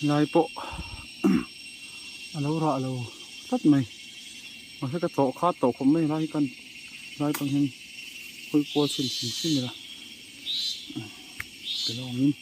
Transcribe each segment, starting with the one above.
lai pawh a lo rah lo tlat mai mahse ka tawh kha tawh khawp mai lai kan lai pawn hian khawi kual chhin chhin chin a la ke lawngin.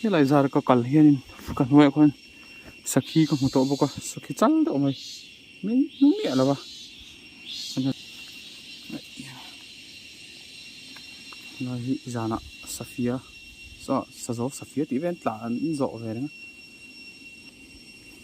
Helai zara ka kal hianin ka hnuaiah khuan sakhi ka hmu tawh bawk a, sakhi chal deuh mai min hmu miah lo a helai hi zana safia sa sazo safia tih vel tla an zawh ve reng a.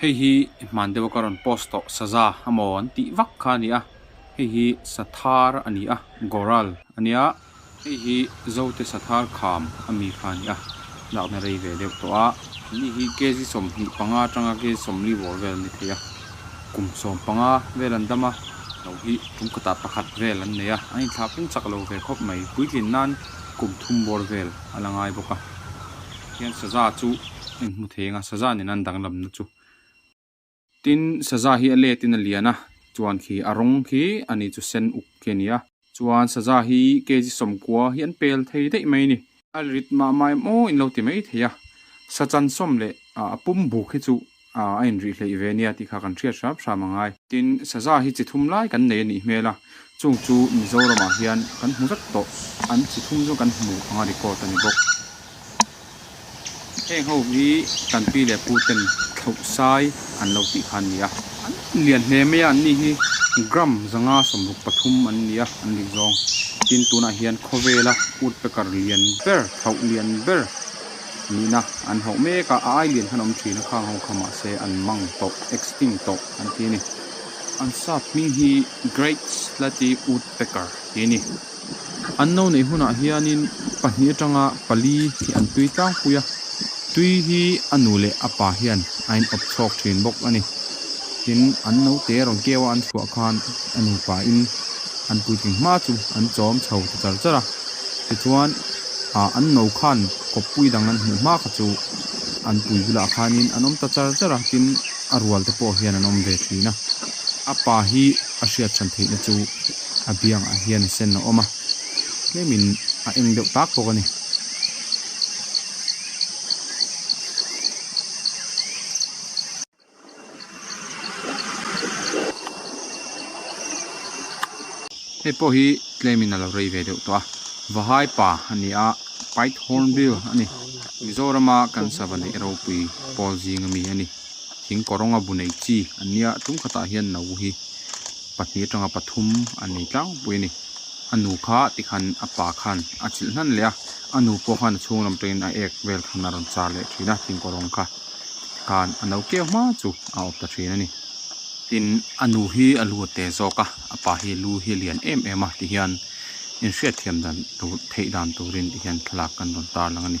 Hei hi hman deuha ka rawn post tawh saza a maw an tih vak kha a nia, hei hi sathar a ni a, goral a nia, hei hi zote sathar kham a mi kha a ni a, lakna rei ve deuh tawh a, ni hi kg sawmhnih panga atanga kg sawmli vawr vel a ni thei a, kum sawm panga vel an dam a, no hi kum kata pakhat vel an nei a, an inthlahpeng chak lo ve khawp mai, puitlin nan kum thum bawr vel a la ngai bawk a. Hian Saza chu eng hmu thei anga Saza nen an danglam na chu. Tin Saza hi a let in a lian a, chuan khi a rawng khi a ni chu sen uk khi a ni a. Chuan Saza hi Kezi Sawmkua hi an pel thei daih mai ni. A rit mah mai maw in lo ti mai thei a, Sachan Sawm leh a pum buk hi chu A inrih hleih ve nia tih kha kan hriat hrap hrap a ngai. Tin, Saza hi chi thum lai kan nei a nih hmel a, chung chu Mizoramah hian kan hmu zat tawh, an chi thum chu kan hmu anga record a ni bawk. Heng ho hi tanpi leh puten thlohsai an lo tih kha an ni a. An lian hle mai a, an ni hi gram zanga sawmruk pathum an ni a, an nih zawng. Tin, tunah hian khawvela utpekar lian ber, thloh lian ber, Nihna an hauh mek a, a ailian khan awm thin a, khang ho kha mahse an mang tawh, extinct tawh an ti a ni. An sap hming hi Great Slaty Woodpecker ti a ni. An no neih hunah hianin pahnih atanga pali hi an tui tlangpui a, tui hi a nu leh a pa hian a inawp chhawk thin bawk a ni. Tin, an naute rawn keuha an chhuah khan a nupain an puitling hma chu an chawm chho ta char char a. Tichuan, ah, an no khan kawppui dang an hmuh hma kha chu an pui bulah khanin an awm ta char char a, tin, a rual te pawh hian an awm ve thin a. A pa hi a hriatchhan theihna chu a biangah hian a senno awm a, tlemin a eng deuh tak bawk a ni. Hei pawh hi claim in a lo rei ve deuh tawh a, Vahai pa a ni a, Pite Hornbill a ni. Mizorama kan sava neih ropui pawl zinga mi a ni. Thing kawrawnga bu nei chi an nia, tum khatah hian no hi pahnih atanga pathum an nei tlangpui a ni. A nu kha tikhan a pa khan a chilh hnan leh a, a nu pawh khan a chhunglam tawngin a ek vel khan a rawn char leh thin a thing kawrawng kha. Khan a no kiau hma chu a awp ta thin a ni. Tin, a nu hi a lu a te zawk a, a pa hi lu hi a lian em em a tih hian inhriatthiam dan tur, theih dan turin tih hian thlalak kan rawn tar lang a ni.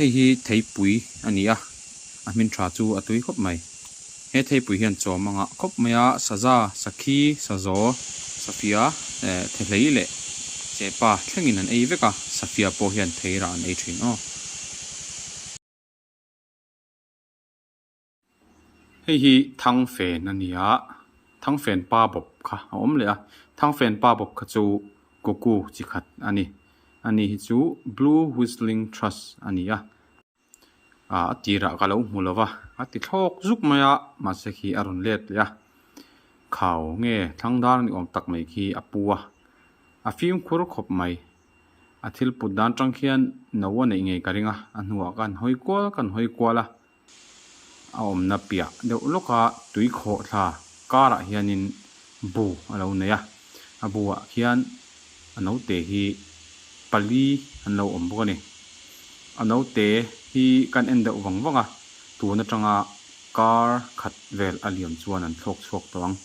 Hei hi theipui a ni a, a hmin tha chu a tui khawp mai. He theipui hian chawm a ngah khawp mai a, Saza, Sakhi, Sazaw, Safia eh Thehlei leh Chepa thlengin an ei vek a, Safia pawh hian Theira an ei thin aw. Hei hi Thangfen a ni a, Thangfen pa bawp kha a awm leh a. Thangfen pa bawp kha chu Koku chi khat a ni. A ni hi chu Blue Whistling Trust a ni a. A tirah ka lo hmu lova, a ti thlawk zuk mai a, mahse khi a rawn let leh a. Khau nge Thlangdar ni awm tak mai khi a pu a, a fimkhur khawp mai. A thil put dan tang khian no a neih ngei ka ring a, a hnuah ka han hawi kual, ka han hawi kual a. A awmna piah deuh lawka tui khawh thla karah hianin bu a lo nei a. A buah khian a naute hi pali an lo awm bawk a ni. A naute hi kan en deuh vang vang a, tun atanga kar khat vel a liam chuan an thlawk chhuak tawh ang.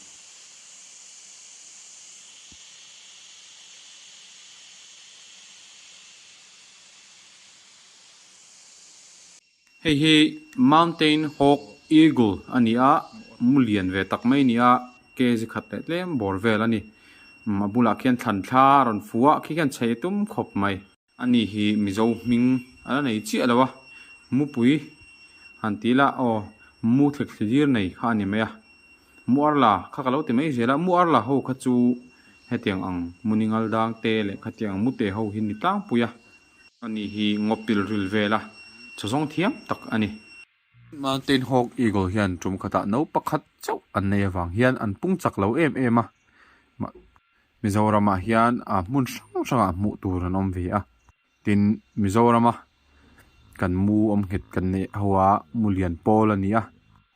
Hei hi Mountain Hawk Eagle a ni a, mu lian ve tak mai a ni a, kg khat leh tlem bawr vel a ni. Umm a bulah khian thlan thla a rawn fu a, khi khian chei tum khawp mai. A ni hi Mizo hming a la nei chiah lo a, Mupui han ti ila aw, Mu thlek thlilir nei kha a ni mai a. Mu Arla kha ka lo ti mai zel a, Mu Arla ho kha chu hetiang ang Mu Ningal Dangte leh khatiang ang Mu Te ho hi ni tlangpui a. A ni hi ngaw pilril vel a chaw zawng thiam tak a ni. Mountain Hawk Eagle hian tum khatah no pakhat chauh an nei avang hian an pung chak lo em em a, mah Mizoramah hian a hmun hrang hrangah hmuh tur an awm ve a, tin Mizorama kan mu awm nghet kan neih ho a mu lian pawl a ni a,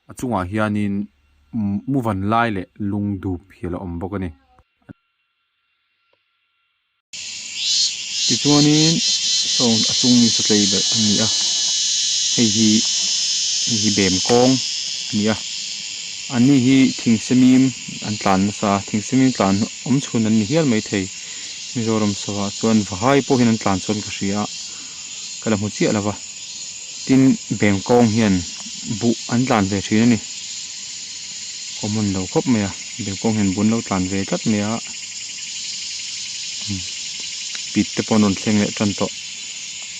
a chungah hianin mu vanlai leh lungdup hi a la awm bawk a ni. Tichuanin sound a chung misa tlei ber a ni a, hei hi hei hi bem kawng a ni a, an ni hi thing semim an tlan nasa a, thing semim tlan awm chhun an ni hial mai thei, Mizoram sawa chuan va hai pawh hian an tlan chuan ka hria a, ka la hmu chiah lo va, tin bem kawng hian buh an tlan ve thin a ni, awm hun lo khawp mai a, bem kawng hian buh an lo tlan ve tlat mai a. Pit te pawh an rawn thleng leh tan tawh.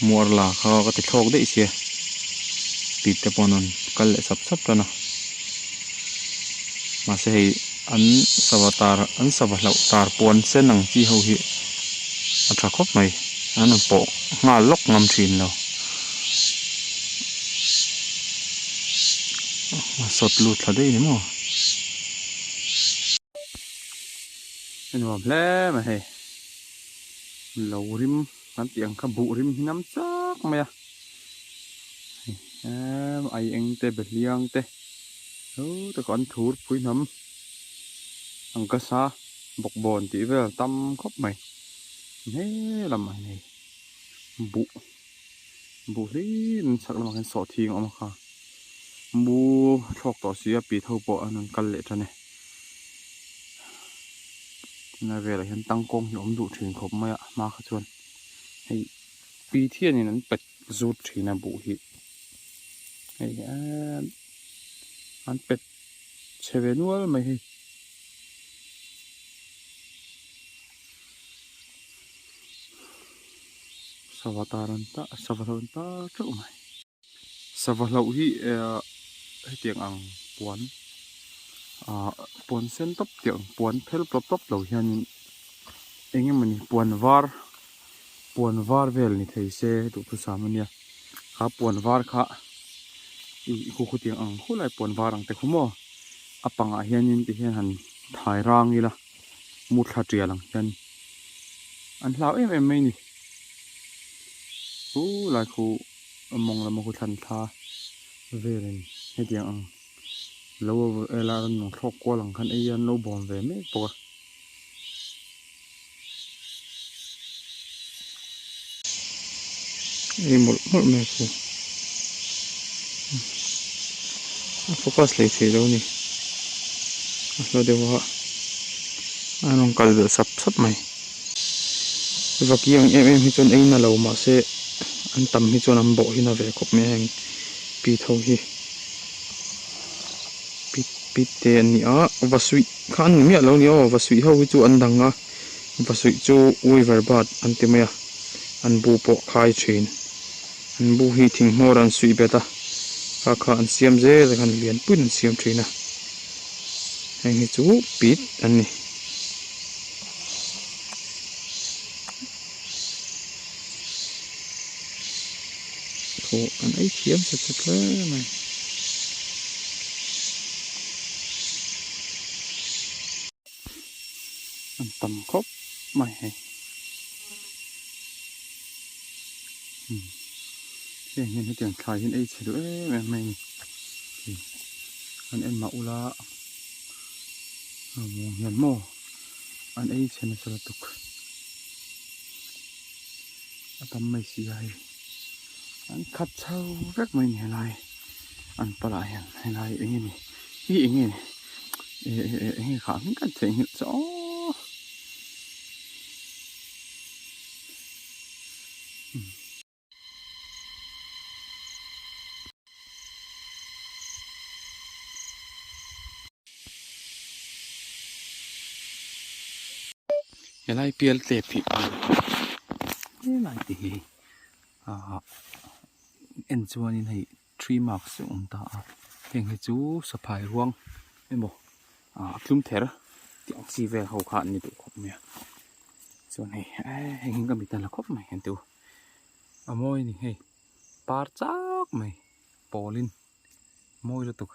Muar la kha ka ti thlawk daih sia. Pit te pawh an rawn kal leh sap sap tan a. Mahse hei an sava tar an sava hlauh tar puan sen ang chi ho hi a tha khawp mai. An rawn pawh nghal lawk ngam thin lo. Sawt lut thla daih em aw. a nuam hle mai hei lo rim kan tih ang kha buh rim hi nam chak mai a em ai eng te be hliang te thu taka an thur pui hnam ang ka sa bawk bawn tih vel tam khawp mai hnee lam mai hei buh. buh hlein chak lamah khan sawh thing a awm a kha mu thlawk tawh si a pi tho pawh an rawn kal leh tan e tuna velah hian tang kawng hi awm duh thin khawp mai a hma kha chuan hei pi thianin an pet zut thin a buh hi hei hian an pet-- chhe ve nual mai hi sava ta ran ta sava hlauh ta teuh mai sava hlauh hi hetiang ang puan ah puan sen tawp teuh puan phel tawp tawp lo hianin eng emawni puan var. puan var vel ni thei se duhthusam a nia a puan var kha i khukhawt hi a ang hulai puan var ang te khawmaw a pangah hianin tihian han thai rang ila muthla tial ang hian an hlau em em mai a ni hulai khu a mawng lama khu thlan thla velin hetiang ang lo ela rawn nung thlawk kual ang khan eihian an lo bawm ve mek bawk a. Ih mawlh mawlh mai chu a focus leh thei lo ni a hla deuh a a rawn kal belh sap sap mai vaki ang em em hi chuan a in a lo mahse an tam hi chuan an bawhin a ve khawp mai a heng pi tho hi pi pi te a ni a va suih. Kha an ni miah lo ni aw, Vasuih ho hi chu an dang a, Vasuih chu Weaver bat an ti mai a, an bu pawh khai thin. An bu hi thinghmawra an suih bet a, kha kha an siam zel a khan lian puiin an siam thin a. Heng hi chu pit an ni. Thaw an ei thiam tha tha tlem mai. An tam khawp mai hei. Hmm. Heng hian hetiang thlai hian ei chhe duh em em mai ni. An en mah ula. Aw hian maw. an ei chhe nasa lutuk a tam mai si a hei an khat chho vek mai a nih helai an pal ah hian helai eng nge ni hi eng nge ni eh eh eh eng nge kha min khat theih nghilh chaw hmm helai pial tlep hi an helai te hi ahh en chuan in hei-- Three marks a awm ta a, heng hi chu saphai ruang emaw ah tlum ther tih ang chi vel ho kha an ni duh khawp mai a, chuan hei eh heng hi ka mitala khawp mai ang tu a mawi a ni hei par chak mai pawlin mawi lutuk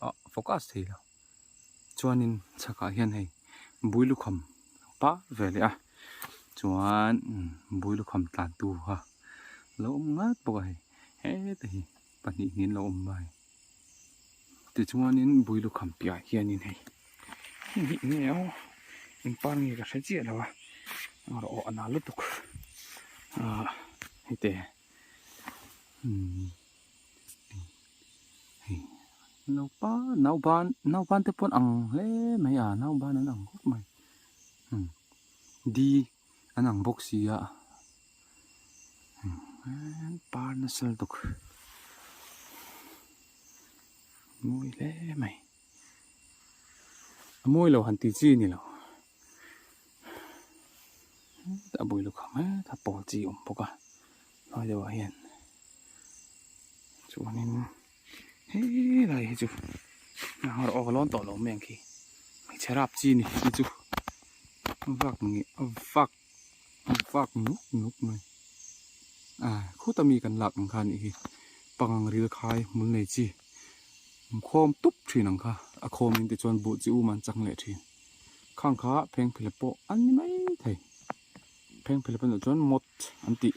ah focus thei lo. Chuanin chhakah hian hei bui lukham pah ve leh a chuan bui lukham tlan tu kha lo awm ngat bawk a hei heta hi pahnih niin lo awm a hei tichuanin bui lukham piahah hianin hei heng hi enge aw in par nge ka hre chiah lo a rawh a nalh lutuk a hete umm. hei naupa naupan naupan te pawh ang hle mai a naupan an ang khawp mai hmm di an ang bawk si a hmm par nasal dawk mawi hle mai. a mawi lo han ti chi ni lo a bul lehkha mai kha pawl chi awm bawk a hnuai deuh ah hian chuan in helai hi chu hnahawr awk a lawn tawh lo mai ang khi hmeichhe rap chi ni chu vak nge vak fak nuk nuk mai a khuta mi kan lak ang kha nih hi pangang ril khai hmul nei chi khawm tup thin ang kha a khawm in te chuan buh chi um an chang leh thin khang kha phengphilep pawh an ni mai thei phengphilep ah chuan mawt an tih.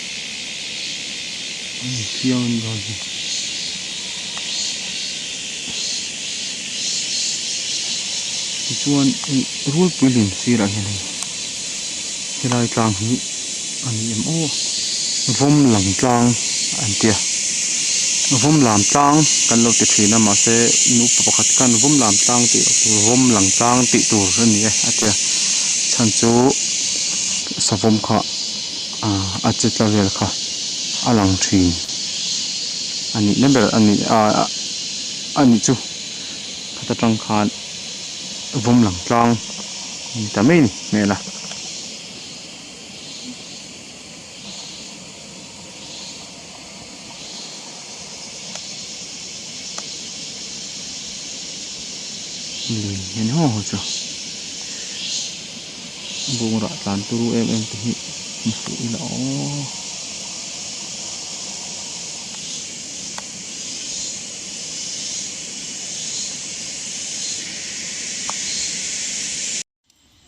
tichuan hei rualpui lem sirah hian hei helai tlang hi a ni ang aw vawm lam tlang a ni tih a vawm lam tlang kan lo ti thin a mahse nupa pakhat khan vawm lam tlang tih vawm lam tlang tih tur a ni e a tia chhan chu savawm kha. A che tla vel kha a lang thin a nih na ber a ni a a ni chu khata tang khan vawm lang tlang a ni ta mai ni hmel a. lui nghen haw haw chu bungrau tlan turu em em te hi hmu suh ila aww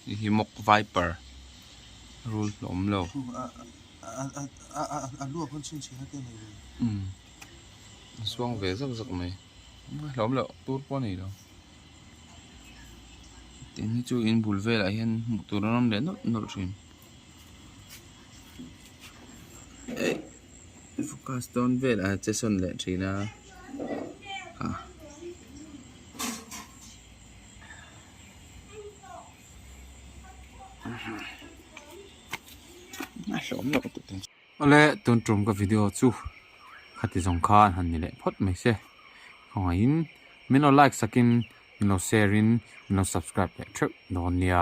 Hei hi mock viper rul hlawm lo. Suang ve zak zak mai. Rul hlawm lo tur pawh a nei lo. Tin hi chu in bul velah hian hmuh tur an awm leh nawlh nawlh thin. Focus dawn velah che sawn leh thin a. Awle tun tum ka video chu khati zawng kha an han ni leh phawt mai se khawngaihin min lo like sakin min lo share in min lo subscribe leh theuh dawn nia.